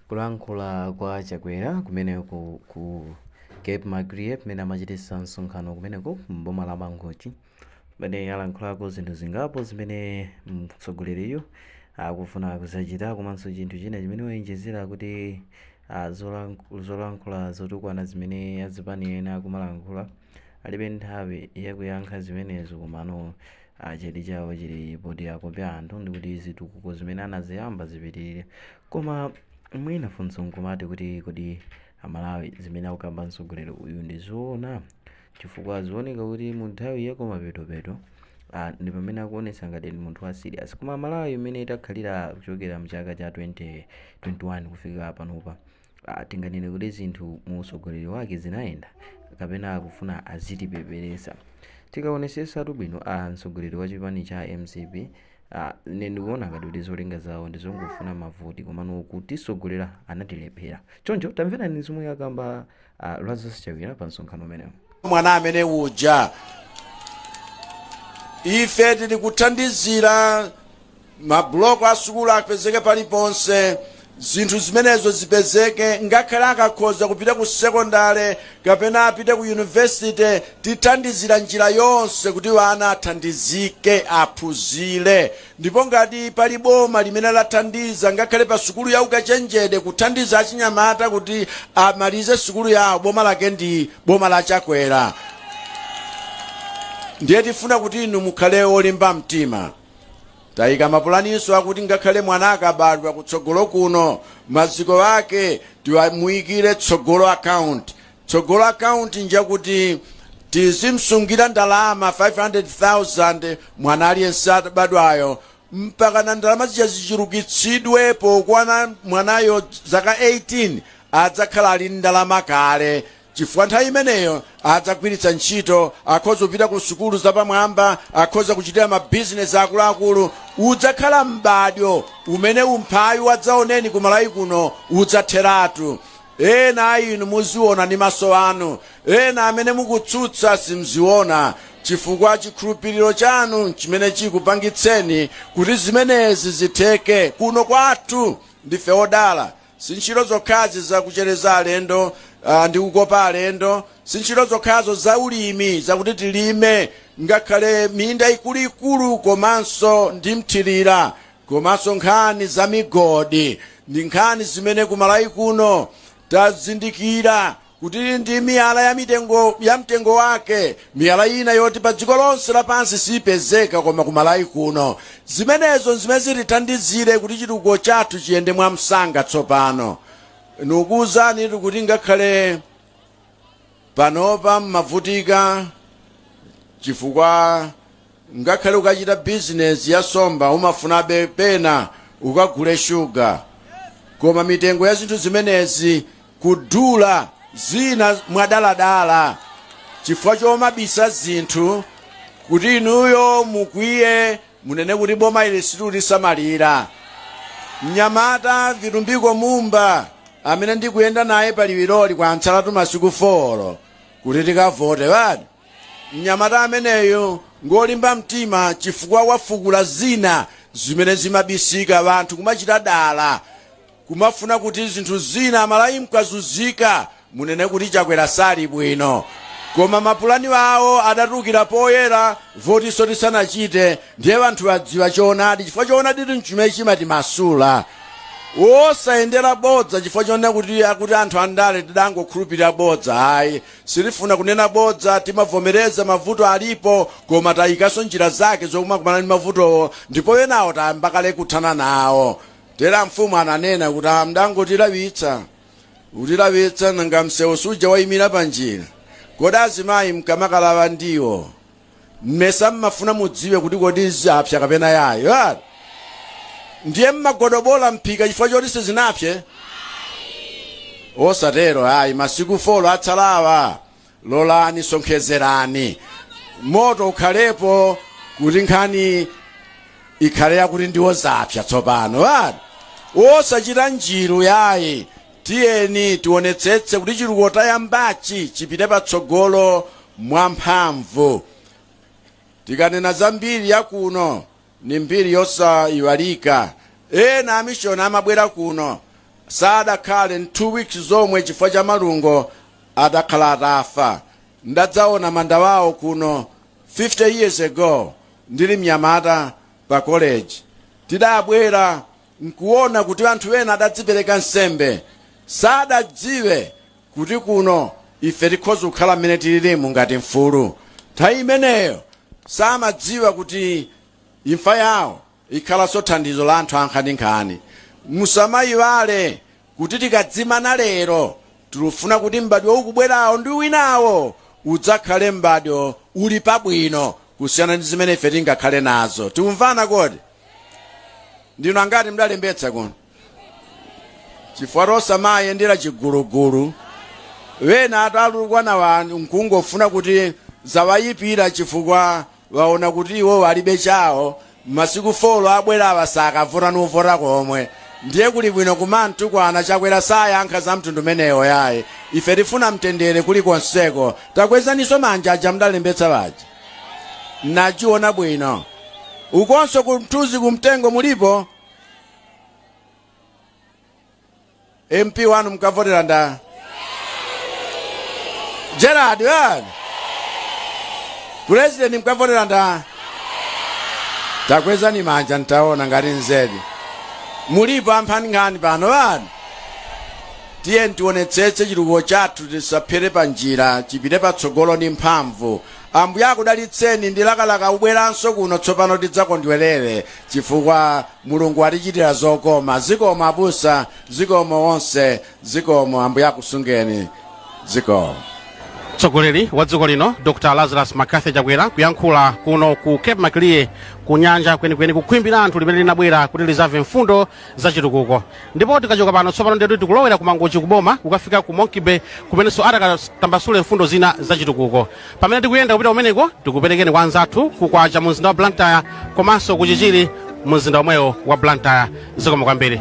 Kulankhula kwa Chakwera kumeneko ku Cape Maclear kumene amachititsa msonkhano kumeneko m'boma la Mangochi kumene alankhulako zinthu zingapo zimene mtsogoleriyo akufuna kuzachita komanso chinthu china chimene waonjezera kuti ah, zolank- zolankhula zotukwana zimene azipani ena akumalankhula alibe nthawi yakuyankha zimenezo komano chidwi chawo chili poti akope anthu ndikuti zitukuko zimene anaziyamba zipitirire koma mwina funso nkumati kuti kodi amalawi zimene akukamba mtsogoleri uyu ndi zoona chifukwa zioneka kuti mu nthawi yakumapetopeto ah, ndi pamene akuonetsa ngati ndi munthu wa serious koma malawi imene itakhalira kuchokera mchaka cha 2021 kufika panopa Ah, tinganene kuti zinthu mu utsogoleri wake zinayenda kapena akufuna azitipeperesa tikaonesesatu bwino ah, mtsogoleri wa chipani cha mcp ah, ine ndikuona ngati kuti zolinga zawo ndizongofuna mavoti komano kutisogolera anatilephera choncho tamverani zomwe akamba ah, lazarus chakwera pa msonkhano umenewo mwana amene uja ife tili kuthandizira mabuloko a sukulu apezeke paliponse zinthu zimenezo zipezeke ngakhale akakhoza kupita ku sekondale kapena apite ku yunivesite tithandizira njira yonse kuti wana athandizike aphunzire ndipo ngati pali boma limene lathandiza ngakhale pa sukulu ya ukachenjede kuthandiza achinyamata kuti amalize sukulu yawo boma lake ndi boma la chakwera ndiye tifuna kuti inu mukhale olimba mtima Taika mapulaninso akuti ngakhale mwana akabadwa kutsogolo kuno, maziko ake timamuikire Tsogolo Account. Tsogolo Account njakuti tizimsungira ndalama 500,000 mwana aliyense abadwayo mpakana ndalama zija zichulukitsidwe pokwana mwanayo zaka 18 adzakhala ali ndalama kale chifukwa nthawi imeneyo adzagwiritsa ntchito akhoza kupita ku sukulu zapamwamba akhoza kuchitira mabizinesi akuluakulu udzakhala m'badwo umene umphawi wadzaoneni ku malawi kuno udzatheratu ena a inu muziona ndi maso anu ena amene mukutsutsa simziona chifukwa chikhulupiriro chanu chimene chikupangitseni kuti zimenezi zitheke kuno kwathu ndife odala Si ntchito zokhazi za kuchereza alendo ah, ndi kukopa alendo, si ntchito zokhazo za ulimi zakuti tilime ngakhale minda ikuluikulu komanso ndi mthirira komanso nkhani za migodi ndi nkhani zimene kumalawi kuno tazindikira kuti ndi miyala ya mtengo wake miyala ina yoti pa dziko lonse lapansi siyipezeka koma ku malawi kuno zimenezo nzimene zitithandizire kuti chitukuko chathu chiyende mwamsanga tsopano ndikukuwuzani kuti ngakhale panopa mmavutika chifukwa Ngakhale ukachita bizinezi ya nsomba umafunabe pena ukagule shuga koma mitengo ya zinthu zimenezi kudula zina mwadaladala chifukwa chomabisa zinthu kuti inuyo mukwiye munene kuti boma ili silutisamalira mnyamata vitumbiko mumba amene ndikuyenda naye paliwiroli kwatsalatu masiku 4 kuti tikavote basi Mnyamata ameneyu ngolimba mtima chifukwa wafukula zina zimene zimabisika wanthu kumachita dala kumafuna kuti zinthu zina amalawi mkazuzika munene kuti chakwera sali bwino koma mapulani awo adatukira poyera votinso tisanachite ndiye wanthu adziwa choonadi chifukwa choonadi tinchimene chimatimasula wosayendera bodza chifukwa chonena kuti akuti anthu andale tidangokhulupirira bodza ayi Sitifuna kunena bodza, timavomereza mavuto alipo koma tayikanso njira zake zokumakumana ndi mavutowo ndipo enawo tayamba kale kuthana nawo, tero a mfumu ananena kuti aa mdangotilawitsa kutilawitsa nanga msewu suja wayimira panjira kodi azimayi mkamakalawa ndiwo mmesa mmafuna mudziwe kuti kodi zapsa kapena yayi ah. ndiye mmagodobola mphika chifukwa choti sizinapse osatero ayi masiku folo atsalawa lolani sonkhezerani moto ukhalepo kuti nkhani ikhale yakuti ndiwo zapsa tsopano ah. osachita njiru yayi tiyeni tionetsetse kuti chitukuko tayambachi chipite patsogolo mwamphamvu. Tikanena za mbiri ya kuno, ni mbiri yosayiwalika. Ena amishoni amabwera kuno sadakhale 2 weeks zomwe chifukwa cha malungo adakhala atafa. Ndadzaona manda wawo kuno 50 years ago ndili mnyamata pa college. Tidabwera nkuona kuti anthu ena adadzipereka nsembe sadadziwe kuti kuno ife tikhoza kukhala mmene tililimu ngati mfulu nthawi imeneyo samadziwa kuti imfa yawo ikhalanso thandizo la anthu ankhaninkhani musamayiwale kuti tikadzimana lero, tilufuna kuti m'badwo ukubwerawo ndi winawo udzakhale m'badwo uli pabwino kusiyana ndi zimene ife tingakhale nazo. Tikumvana kodi? Ndinu angati mdalembetsa kuno? Chifukwa tosamayendera chigulugulu. Wena alutukwana awo nkungofuna kuti zawaipira chifukwa Waona kuti iwowo alibe chawo masiku four abwerawa sakavota nkuvota komwe ndiye kuli bwino kumamutukwana chakwera sayankha za mtundu umenewo yayi ife tifuna mtendere kuli konseko takwezaniso manja aja mudalembetsa paja nachiona bwino ukonso kumthuzi kumtengo mulipo mp wanu mukavotera ndani gerald wani pulezidenti mukavotera ndani takwezani manja ntaona ngati nzedidi mulipo amphani nkhani pano wani tiye tionetsetse chitukuko chathu chisafere pa njira chipite patsogolo ndi mphamvu ambuye akudalitseni ndilakalaka kubweranso kuno tsopano tidzakondwerere chifukwa mulungu adzatichitira zokoma zikomo abusa zikomo onse zikomo ambuye akusungeni zikomo mtsogoleri wa dziko lino dr lazarus mccarthy chakwera kuyankhula kuno ku cape maclear ku nyanja kwenikweni ku khwimbi la anthu limene linabwera kuti lizamve mfundo za chitukuko ndipo tikachoka pano tsopano ndetu tikulowera ku mangochi kuboma kukafika ku monkey bay kumenenso akatambasule mfundo zina za chitukuko pamene tikuyenda kupita kumeneko tikuperekeni kwa anzathu kukwacha mu mzinda wa blantyre komanso ku chichiri mu mzinda omwewo wa blantyre zikomo kwambiri